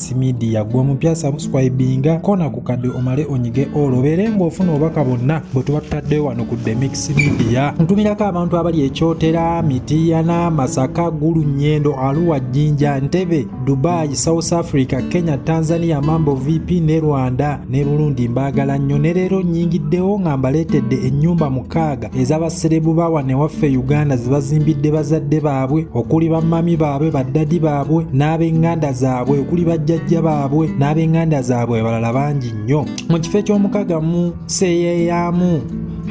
Alex Media gwe omupya subscribinga kona ku kadde omale onyige olwo beere ng'ofuna obubaka bonna bwe tuba tutadde wano ku The Mix Media ntumirako abantu abali ekyotera Mityana Masaka Gulu Nyendo Arua Jinja Ntebe Dubai South Africa Kenya Tanzania Mambo VP ne Rwanda ne Burundi mbaagala nnyo ne leero nnyingiddewo nga mbaleetedde ennyumba mukaaga ez'abaserebu ba wano ewaffe e uganda zebazimbidde bazadde baabwe okuli bamami baabwe baddadi baabwe n'ab'enganda zaabwe okuli bajjajja baabwe n'ab'enganda zaabwe abalala bangi nnyo mu kifo eky'omukaga mu seyeeyaamu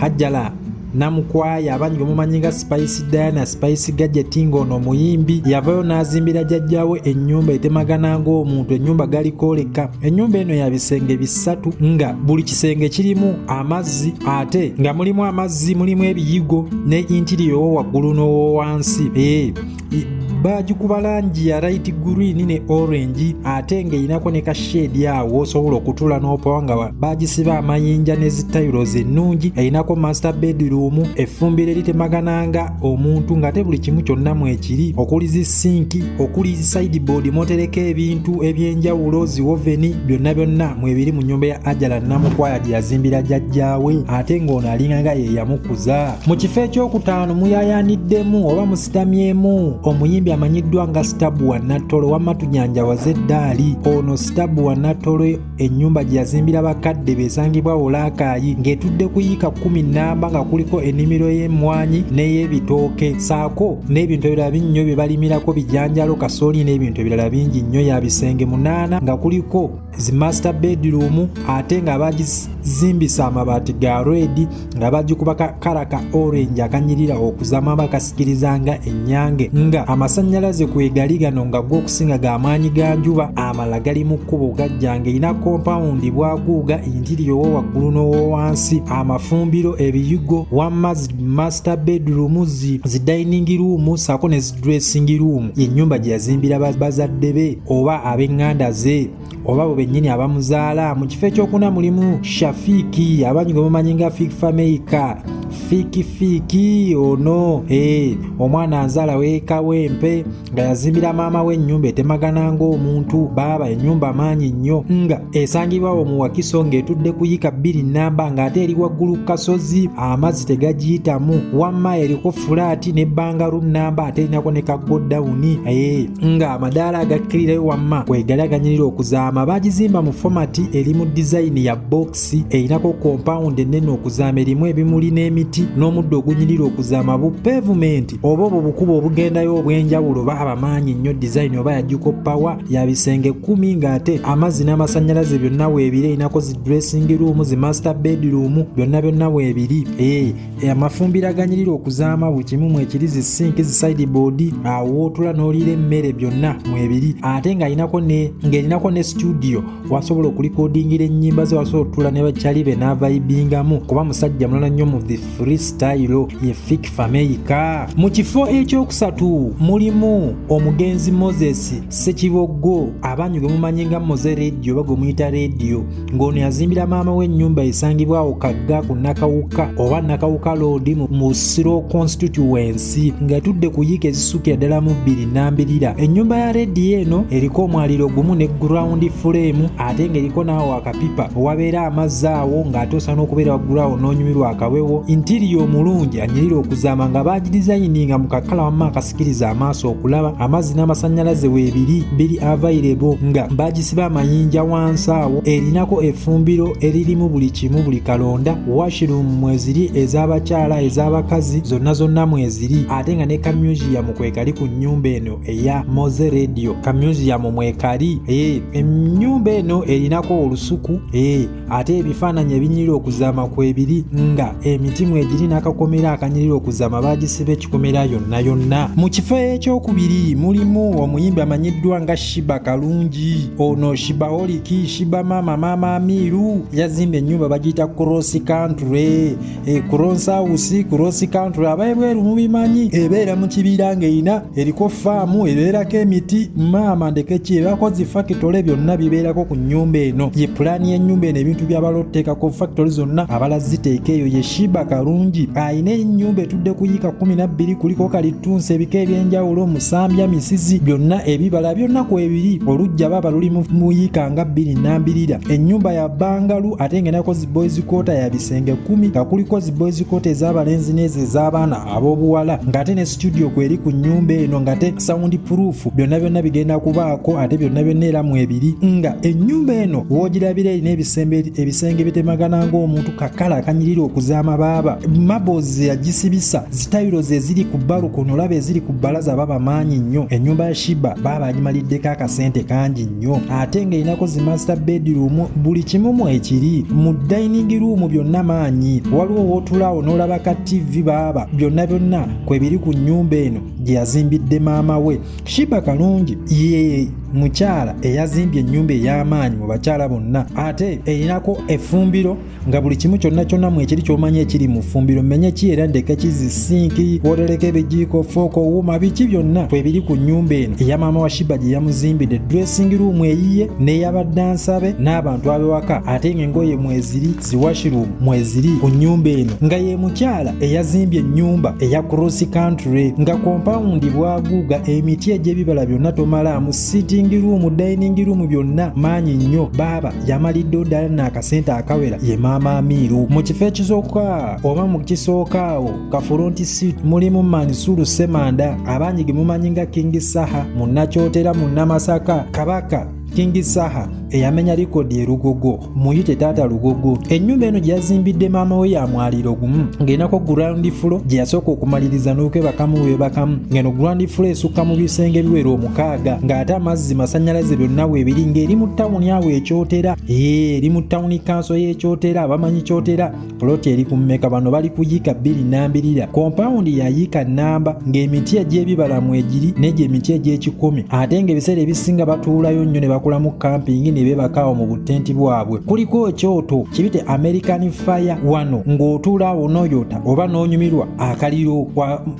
hajjala namukwaya abangi omumanyi nga spice diana spice gadget ng'ono omuyimbi yavayo n'azimbira jajjawe ennyumba etemagana ng'omuntu ennyumba galikoleka Ennyumba eno ya bisenge bisatu nga buli kisenge kirimu amazzi ate nga mulimu amazzi mulimu ebiyigo ne intiriyo wo waggulu n'owowansi ee eh, baagikuba langi ya light green ne orange ate ng'erinako ne kasheedi awo osobola okutula n'opawa nga baagisiba amayinja ne zitayiro zennungi erinako master bedroom effumbiro eritemagananga omuntu ng'ate buli kimu kyonna mwekiri okuli zi sinki okuli sideboard motereka ebintu ebyenjawulo ziwoveni byonna byonna mwebiri mu nyumba ya ajala namukwaya gye yazimbira jajjaawe ate ng'ono alinganga ye yamukuza mu kifo ekyokutaano muyayaaniddemu oba musitamyemu omuyimbi amanyiddwa nga sitabu wa nattolo wamma tujanjawaze eddaali ono sitabu wa nattolo ennyumba gye yazimbira bakadde besangibwa wolaakaayi ng'etudde ku yiika kkumi nnamba nga kuliko ennimiro y'emmwanyi n'ey'ebitooke saako n'ebintu ebirala binnyo bye balimirako bijanjalo kasooli n'ebintu ebirala bingi nnyo ya bisenge munaana nga kuliko zi master bedroom ate ng'abagizimbisa amabaati ga redi nga bagikuba kakala ka orange akanyirira okuzama bakasikiriza nga ennyange nga amasannyalaze kwegali gano nga gwokusinga ga maanyi ga njuba amala gali mu kkubo gajja ng'erina kompawundi bwaguuga intiriyo wo waggulu n'owowansi amafumbiro ebiyigo wamaz master bedroom zi zi dining room saako ne zi dressing room y'ennyumba gye yazimbira bazadde be oba ab'eŋŋanda ze oba bo bennyini abamuzaala mu kifo ekyokuna mulimu shafiiki abangi gwe mumanyi nga fiik fameika fiiki fiiki ono e, omwana anzaala weeka wempe nga yazimbira maama we ennyumba etemagana ng'omuntu baaba ennyumba maanyi nnyo nga esangibwawo mu wakiso ng'etudde kuyika bbiri nnamba ng'ate eri waggulu ku kasozi amazzi tegagiyitamu wamma eriko fulaati ne bangaru nnamba ate erinako ne kagodawuni e, nga amadaala agakkirirayo wamma kwegali aganyirira okuzaama bagizimba mu fomati eri mu dizayini ya bokisi erinako kompawundi ennene okuzaama erimu ebimuli n'emiti n'omuddo ogunyirira okuzaama bu pevumenti oba obwo bukuba obugendayo obw'enjawulo oba abamaanyi nnyo dizayini oba yajjuko pawa ya bisenge kkumi ng'ate amazzi n'amasannyalaze byonna weebiri erinako zi dressing room zi master bedroom byonna byonna weebiri ee eh, Eh, amafumbira aganyirira okuzaama buli kimu mwekiri zi sinki zi sideboard awo wootula n'oliira emmere byonna mwebiri ate ng'alinako ne ng'erinako ne situdiyo wasobola okulikodingira ennyimba ze wasobola otutula ne bakyali be n'avaibingamu kuba musajja mulala nnyo mu the free style ye fik fameika mu kifo ekyokusatu mulimu omugenzi moses sekiboggo abanyu gwe mumanyi nga moze rediyo oba gwe muyita rediyo ng'ono yazimbira maama we ennyumba esangibwa awo kagga ku nakawuka oba nakawuka loodi mu siro constituency ng'etudde ku yiika ezisukira ddala mu bbiri nambirira ennyumba ya rediyo eno eriko omwaliro gumu ne gurawundi fuleemu ate ng'eriko n'awo akapipa owabeera amazzi awo ng'ate osana okubeera waggulawo n'onyumirwa akawewo intiriyo omulungi anyirira okuzaama nga baagirizayininga mu kakala wamma sikiriza amaaso okulaba amazzi n'amasannyalaze weebiri biri avairebo nga baagisiba amayinja wansi awo erinako effumbiro eririmu buli kimu buli kalonda washiruumu mweziri ez'abakyala ez'abakazi zonna zonna mweziri ate nga ne kamyuziyamu kwekali ku nnyumba eno eya moze radio kamyuziyamu mwekali eh, ennyumba eno erinako olusuku eh, ate ebifaananyi ebinyirira okuzaama kwebiri nga emitimu egiri n'akakomera akanyirira okuzaama baagisiba ekikomera yonna yonna mu kifo ekyokubiri mulimu omuyimbi amanyiddwa nga shiba kalungi ono shiba oliki shiba maama maama amiiru yazimba ennyumba bagiyita cross country ekuronsa usi kurosi country abaebweru mubimanyi ebeera mu kibiira ng'erina eriko faamu ebeerako emiti maama ndekeki ebakozi fakitole byonna bibeerako ku nnyumba eno ye pulaani y'ennyumba eno ebintu byabala otuteekako fakitole zonna abala ziteeka eyo ye shiba kalungi alina ennyumba etudde ku yiika kumi nabbiri kuliko kalittunsi ebika eby'enjawulo omusambya misizi byonna ebibala byonna ku ebiri olujja baba luli mu yiika nga bbiri nambirira ennyumba ya bangalu ate ng'enakozi boys quarter ya bisenge kumi nga kuliko zi boys quarter ez'abalenzi n'ezo ez'abaana ab'obuwala ng'ate ne studio kweri ku nnyumba eno ng'ate sound proof byonna byonna bigenda kubaako ate byonna byonna era mu ebiri nga ennyumba eno woogirabira erina ebisenge bitemagana ng'omuntu kakala akanyirira okuzaama baaba mabos yagisibisa zitayiro ze ziri ku balukono olaba eziri ku bbalaza baba maanyi nnyo ennyumba ya shiba baaba agimaliddeko akasente kangi nyo ate ng'erinako zi master bedroom buli kimu mwekiri mu dining room byonna maanyi waliwo wootulaawo n'olaba ka tv baaba byonna byonna kwebiri ku nnyumba eno gye yazimbidde maama we shiba kalungi ye mukyala eyazimbye ennyumba ey'amaanyi mu bakyala bonna ate erinako efumbiro nga buli kimu kyonna kyonna mwekiri kyomanya ekiri mu ffumbiro menye ki era ndeke kizi sinki wotereka ebijiiko fooko wuuma biki byonna kwebiri ku nnyumba eno eya maama wa shiba gye yamuzimbidde dressing room eyiye n'eyabadde ansabe n'abantu abewaka ate nga engoye mweziri ziwashiroom mweziri ku nnyumba eno nga ye mukyala eyazimbye ennyumba eya cross country nga kompawundi bwaguuga emiti egy'ebibala byonna tomalaamu sitting room dining room byonna maanyi nnyo baaba yamalidde ddala n'akasente akawera ye maama amiiru mu kifo ekisooka oba mu kisooka awo kafulonti sit mulimu mansuru semanda abangi ge mumanyi nga kingi saha munnakyotera munnamasaka kabaka kingi saha eyamenya likodi erugogo muyite taata lugogo ennyumba eno gye yazimbidde maama we ya mwaliro gumu ng'enako gurandi fulo gye yasooka okumaliriza n'okwebakamu webakamu ng'eno gurandi fulo esukka mu bisenge biwera omu mukaaga ng'ate amazzi masanyalaze byonna weebiri ng'eri mu tawuni awo ekyotera ee eri mu tawuni kanso y'ekyotera abamanyi kyotera poloti eri ku mmeka bano bali ku yiika bbiri nambirira kompawundi ya yiika nnamba ng'emiti egy'ebibala mu egiri n'egyo emiti egy'ekikumi ate ng'ebiseera ebisinga batuulayo nnyo ne bakolamu kampingi ne beebakaawo mu butenti bwabwe kuliko ekyoto kibite american fire wano ng'otuula awo n'oyota oba n'onyumirwa akaliro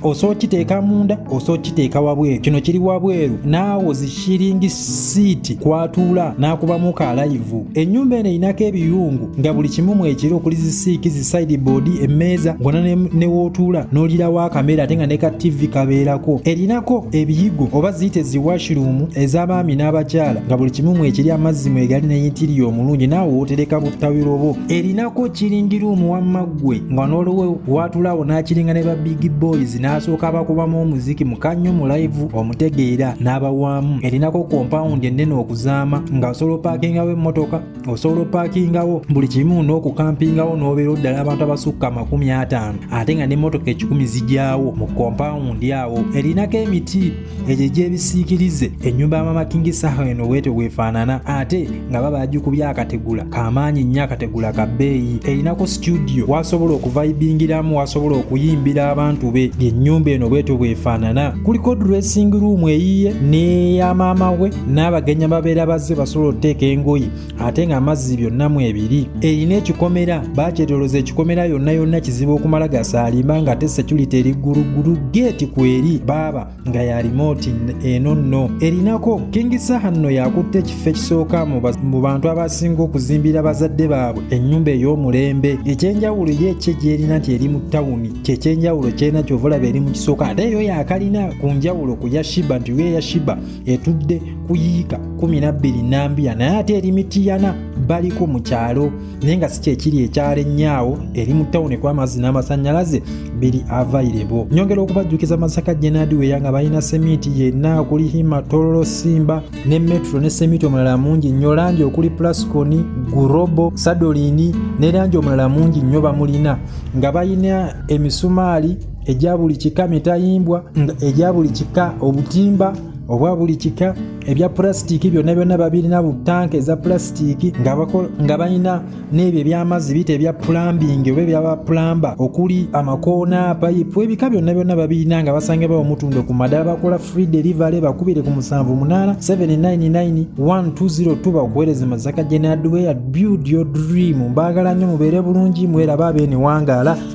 osobola okiteeka munda osobola okiteeka wabweru kino kiri wabweru naawo zishiringi siiti kwatuula n'akubamu ka layivu ennyumba eno erinako ebiyungu nga buli kimu mwekiri okuli zisiiki zisaidi boodi emmeeza ngona newootuula n'olirawo akamera ate nga ne ka ttivi kabeerako erinako ebiyigo oba ziyita eziwashiruumu ez'abaami n'abakyala nga buli kimu mwekiri amazzi mwegali neyintiriyo omulungi naawe wootereka buttawiro bwo erinako kiringiruumu wamma gwe nga n'olwowo watulawo n'akiringa ne ba big boys n'asooka abakubamu omuziki mukannyo mu live omutegeera n'abawaamu erinako kompawundi ennene okuzaama nga osobola opaakingawo emmotoka osobola opaakingawo buli kimu n'okukampingawo n'obeera oddala abantu abasukka amakumi ataano ate nga n'emmotoka ekikumi zijyawo mu kompawundi awo erinako emiti egyo egyebisiikirize ennyumba ya mama kingi saha eno bwetyo bwefaanana ate nga baba yagikubye akategula kamaanyi nnyo akategula ka bbeeyi erinako situdiyo wasobola okuvaibingiramu wasobola okuyimbira abantu be lyennyumba eno bwetyo bwefaanana kuliko dressing room eyiye neya maama we n'abagenya babeera bazze basobola okuteeka engoye ate nga amazzi byonna mu ebiri erina ekikomera bakyetoloza ekikomera yonna yonna kizibu okumala gasaalimba nga ate security eri gguluggulu geeti kweri baaba nga ya remote eno nno erinako kingi saha nno yakutte ekifo ekisooka mu bantu abasinga okuzimbira bazadde baabwe ennyumba ey'omulembe ekyenjawulo ye ekye gyerina nti eri mu tawuni kyekyenjawulo kyena kyovulaba eri mu kisooka ate eyo yakalina ku njawulo ku yashiba nti yo eyashiba etudde ku yiika kumi na bbiri nambiya naye ate eri mitiyana baliko mu kyalo naye nga si kyekiri ekyalo ennyaawo eri mu tawuni ekuba amazzi n'amasannyalaze biri avairebo nyongera okubajjukiza masaka jenadi weya nga balina semiiti yenna okuli hima tololo simba ne metro ne semiiti omulala mungi nnyo langi okuli plasconi gurobo sadolini ne langi omulala mungi nnyo bamulina nga balina emisumaali egya buli kika mitayimbwa nga egya buli kika obutimba obwa buli kika ebya pulasitiiki byonna byonna babirina bu tanka eza pulasitiiki nga balina n'ebyo ebyamazzi biyita ebya pulambingi oba ebyaba pulamba okuli amakoona payipu ebika byonna byonna babirina nga basange bawo mutundo ku madala bakola free delivery bakubire ku musanvu munaana 799120 bakuweereze mazaka general hardware build your dream mbaagala nnyo mubeere bulungi mweraba abeeniwangaala